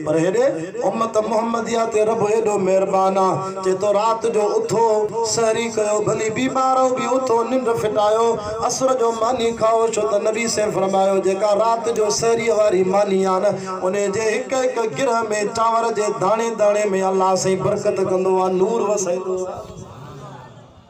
پر هيڏي امت محمديه تي رب هيڏو مهربان آ چي تو رات جو اٿو سحري ڪيو ڀلي بيمارو به اٿو ننڊ ڦٽايو عصر جو ماني کائو ڇو ته نبي سين فرمايو جيڪا رات جو سحريء واري ماني آ نه انهي جي هڪ هڪ گرهه ۾ چانور جي داڻي داڻي ۾ الله سائين برڪت ڪندو آ نور وسائيندو آ.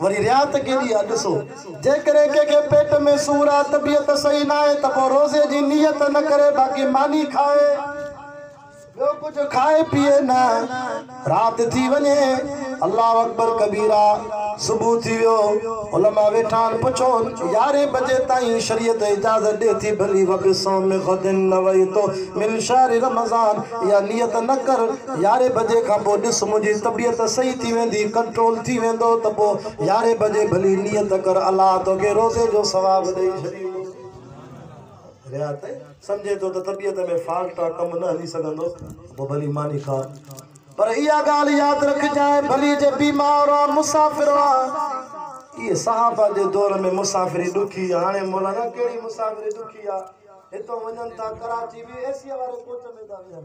وري رياضت ڪي ليئي اڄ سو. جيڪڏهن ڪنهن کي پيٽ ۾ سور آهي، طبيعت صحيح ناهي ته پوء روزي جي نيت نه ڪري باقي ماني کائي، ٻيو ڪجهه کائي پيئي نه. رات ٿي وڃي، الله اڪبر ڪبيرا، صبح ٿي ويو، علماء ويٺا آهن، پڇو يارهين بجي تائين شريعت اجازت ڏئي ٿي ڀلي وبصوم غد نويت من شهر رمضان اها نيت نه ڪر، يارهين بجي کان پوء ڏس منهنجي طبيعت صحيح ٿي ويندي، ڪنٽرول ٿي ويندو ته پوء يارهين بجي ڀلي نيت ڪر الله توکي روزي جو ثواب ڏئي ڇڏيندو. ريا ته سمجهي ٿو ته طبيعت ۾ فالٽ آ ڪم نه هلي سگهندو ته پوء ڀلي ماني کا پر اها ڳالهه ياد رکجانء ڀلي جي بيمار آ مسافر آ اهي صحابه جي دور ۾ مسافري ڏکي هاڻي مولانا ڪهڙي مسافري ڏکي آ هتئون وڃن ٿا ڪراچي به اي سيء واري ڪوچ ۾ ٿا ويهن.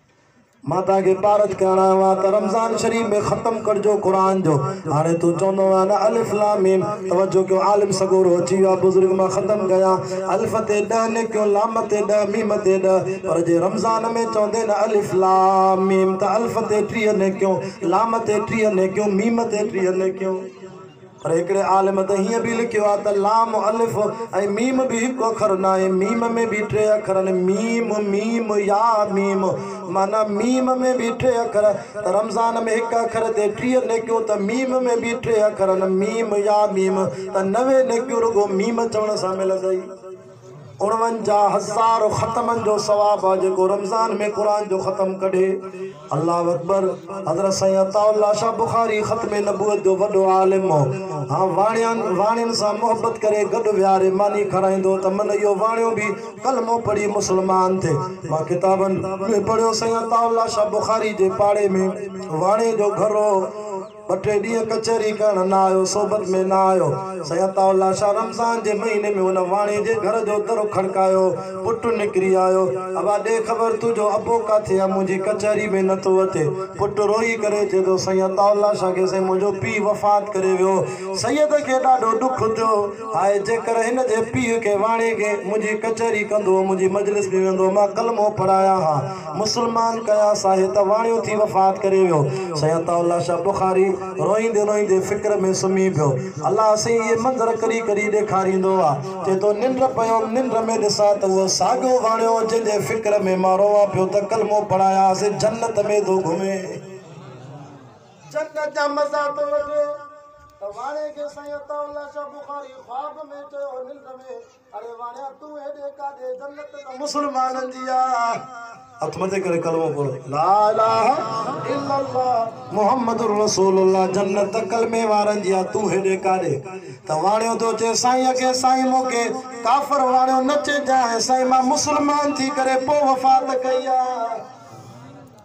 مان توهان کي پارت ڪيان آيو آهيان ته رمضان شريف ۾ ختم ڪرجو قرآن جو هاڻي تون چوندو آهين نه الف لام ميم توجه ڪيو عالم سڳورو اچي ويو آهي بزرگ مان ختم ڪيان الف تي ڏهه نيڪيون لام تي ڏهه ميم تي ڏهه پر جي رمضان ۾ چوندين نه الف لام ميم ته الف تي ٽيهه نيڪيون لام تي ٽيهه نيڪيون ميم تي ٽيهه نيڪيون. پر هڪڙي عالم ته هيئن به لکيو آهي ته لام، الف ۽ ميم به هڪ اکر ناهي، ميم ۾ به ٽي اکر آهن، ميم، ميم، يا، ميم، معنيٰ ميم ۾ به ٽي اکر، ته رمضان ۾ هڪ اکر تي ٽيهه نيڪيون ته ميم ۾ به ٽي اکر آهن، ميم، يا، ميم، ته نوي نيڪيون رڳو ميم چوڻ سان ملندئي. اڻونجاهه هزار ختمن جو ثواب آ جيڪو رمضان ۾ قرآن جو ختم ڪڍي الله اڪبر حضرت سائين عطاء الله شاھ بخاري ختم نبوت جو وڏو عالم هو ها واڻيان واڻين سان محبت ڪري گڏ ويهاري ماني کارائيندو ته من اهو واڻيو به ڪلمو پڙهي مسلمان ٿي مان ڪتابن ۾ پڙهيو سائين عطاء الله شاھ بخاري جي پاڙي ۾ واڻي جو گهر هو ٻه ٽي ڏينهن ڪچهري ڪرڻ نه آيو، صحبت ۾ نه آيو. سائين عطاء الله شاهه رمضان جي مهيني ۾ ان واڻي جي گهر جو در کڙڪايو. پٽ نڪري آيو. ابا ڏي خبر تنهنجو ابو ڪاٿي آهي، منهنجي ڪچهري ۾ نه ٿو اچي. پٽ روئي ڪري چئي ٿو، سائين عطاء الله شاهه کي سائين منهنجو پيء وفات ڪري ويو. سيد کي ڏاڍو ڏک ٿيو. هاء جيڪر هن جي پيء کي واڻي کي منهنجي ڪچهري ڪندو هو، منهنجي مجلس ۾ ويندو هو، مان ڪلمو پڙهايان ها. مسلمان ڪيا ساهي ته واڻيو ٿي وفات ڪري ويو. سيد عطاء الله شاهه بخاري روئيندي روئيندي فڪر ۾ سمهي پيو. الله سائين اهي منظر ڪڏهن ڪڏهن ڏيکاريندو آ. چئي ٿو ننڊ پيوم ننڊ ۾ ڏسان ته اهو ساڳيو واڻيو جنهن جي فڪر ۾ مان روئان پيو ته ڪلمو پڙهايانس جنت ۾ ٿو گهمي. جنت جا مزا ٿو وٺي ته واڻي کي سائين عطاء الله شاهه بخاري خواب ۾ چيو ننڊ ۾. اڙي واڻيا تون هيڏي ڪاڏي جنت ته مسلمانن جي آ هٿ مٿي ڪري ڪلمو پڙهو لا اله الا الله محمد رسول الله جنت ته ڪلمي وارن جي آ تون هيڏي ڪاڏي ته واڻيو ٿو چي سائين اکي سائين مون کي ڪافر واڻيو نه چئجانء سائين مان مسلمان ٿي ڪري پوء وفات ڪئي آ.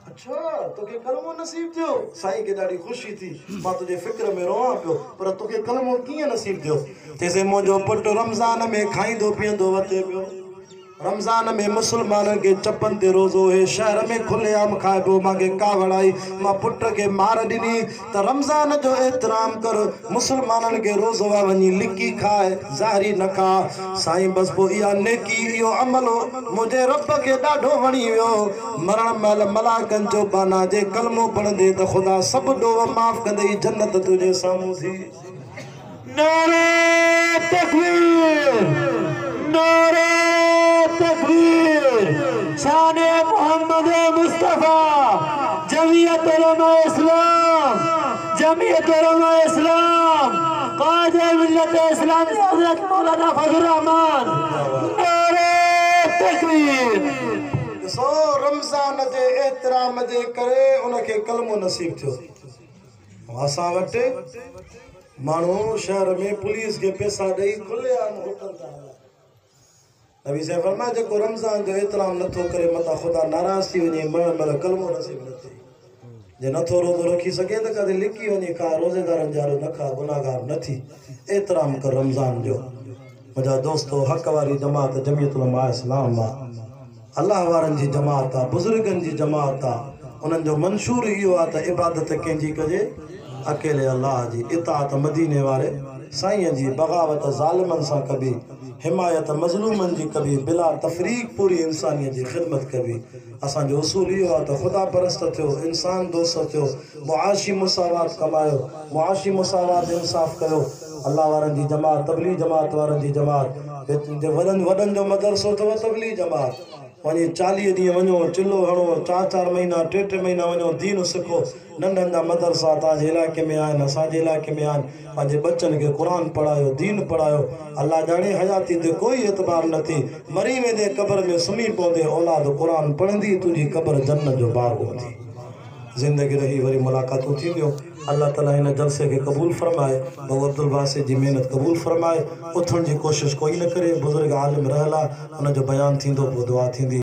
اڇا! توکي ڪلمو نصيب ٿيو. سائين کي ڏاڍي خوشي ٿي. مان تنهنجي فڪر ۾ روئان پيو. پر توکي ڪلمو ڪيئن نصيب ٿيو؟ چيسين منهنجو پٽ رمضان ۾ کائيندو پيئندو وتي پيو. رمضان ۾ مسلمانن کي چپن تي روزو اهي شهر ۾ کلي عام کائبو. مانکي ڪاوڙ آئي. مان پٽ کي مار ڏني. ته رمضان جو احترام ڪر مسلمانن کي روزو آ وڃي لڪي کاء ظاهري نه کاء سائين بس پوء اها نيڪي اهو عمل منهنجي رب کي ڏاڍو وڻي ويو مرڻ مهل ملائڪن جو بانا جي ڪلمو پڙهندي ته خدا سڀ ڏوهه معاف ڪندئي جنت تنهنجي سامهون ٿي نعرا تڪبير نعرا تڪبير شان محمد مصطفيٰ جمعيت علماء اسلام جمعيت علماء اسلام قائد ملت اسلامي حضرت مولانا فضل الرحمان نعرا تڪبير ڏسو رمضان جي احترام جي ڪري ان کي ڪلمو نصيب ٿيو واسان وٽ ماڻهو شهر ۾ پوليس کي پيسا ڏئي کلي عام هوٽل ٿا هلائين. نبي صاحب فرمايو جيڪو رمضان جو احترام نٿو ڪري متان خدا ناراض ٿي وڃي مرڻ مهل ڪلمو نصيب نه ٿئي. جي نٿو روزو رکي سگهي ته ڪاٿي لڪي وڃي کاء روزيدارن جي آڏو نه کاء گناهگار نه ٿي احترام ڪر رمضان جو. منهنجا دوستو حق واري جماعت جميعت علماء اسلام مان. الله وارن جي جماعت آ، بزرگن جي جماعت آ، انهن جو منشور اهو آ ته عبادت ڪنهن جي ڪجي؟ اڪيلي الله جي، اطاعت مديني واري سائينء جي، بغاوت ظالمن سان ڪبي، حمايت مظلومن جي ڪبي، بلا تفريق پوري انسانيت جي خدمت ڪبي. اسان جو اصول اهو آ ته خدا پرست ٿيو، انسان دوست ٿيو. معاشي مساوات ڪمايو، معاشي مساوات انصاف ڪيو، الله وارن جي جماعت تبليغي جماعت وارن جي جماعت جي وڏن وڏن جو مدرسو اٿو تبليغي جماعت وڃي چاليهه ڏينهن وڃو چلهو هڻو چار چار مهينا ٽي ٽي مهينا وڃو دين سکو ننڍن جا مدرسا توهان جي علائقي ۾ آهن اسان جي علائقي ۾ آهن پنهنجي ٻچن کي قرآن پڙهايو دين پڙهايو الله ڄاڻي حياتي تي ڪوئي اعتبار نه ٿي مري ويندي قبر ۾ سمهي پوندي اولاد قرآن پڙهندي تنهنجي قبر جنت جو باغ هوندي. زندگي رهي وري ملاقاتون ٿينديون الله تعالي هن جلسي کي قبول فرمائي بابو عبدالباسط جي محنت قبول فرمائي اٿڻ جي ڪوشش ڪوئي نه ڪري بزرگ عالم رحلا ان جو بيان ٿيندو پوء دعا ٿيندي.